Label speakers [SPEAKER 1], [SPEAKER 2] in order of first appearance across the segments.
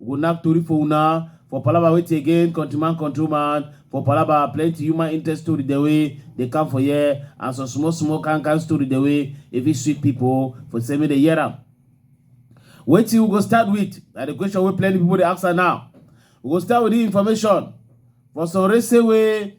[SPEAKER 1] We go knack tori for una for palava wetin again countryman controlman for palava plenty human interest story dem wey dey come for here and some small small kind kind story dem wey e fit sweet pipo for say make dem hear am. Wetin we go start with na di question wey plenty pipo dey ask am now. We go start with dis information for some race wey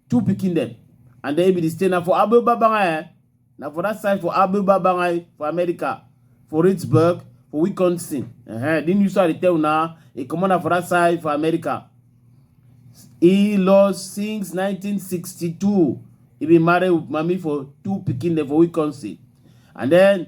[SPEAKER 1] two pikin dem and then e be the stay na for abu babanga eh na for that side for abu babanga eh, for america for Pittsburgh, for Wisconsin. Uh-huh. Then you saw the tell now, a commander for that side for America. He lost since 1962. He been married with mommy for two picking for Wisconsin. And then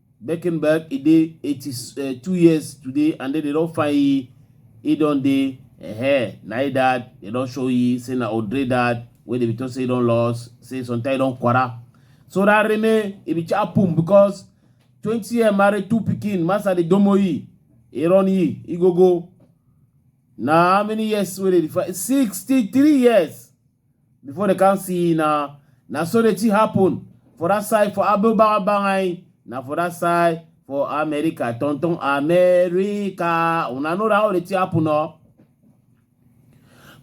[SPEAKER 1] Beckenberg, he dey 82 years today and then they don find he, he don dey eh na he dad, they don show he say na Odre dad wey dey be talk say he don lost, say sometimes he don kwara. So that Reme, he be chapum because 20 year married two pikin, master dey domo he, he run he, he go go. Na how many years wey dey find? 63 years. before they can see na na so the thing happen for that side for Abubakar Bangai na for that side for America tonton America una know how the thing happen o. Oh.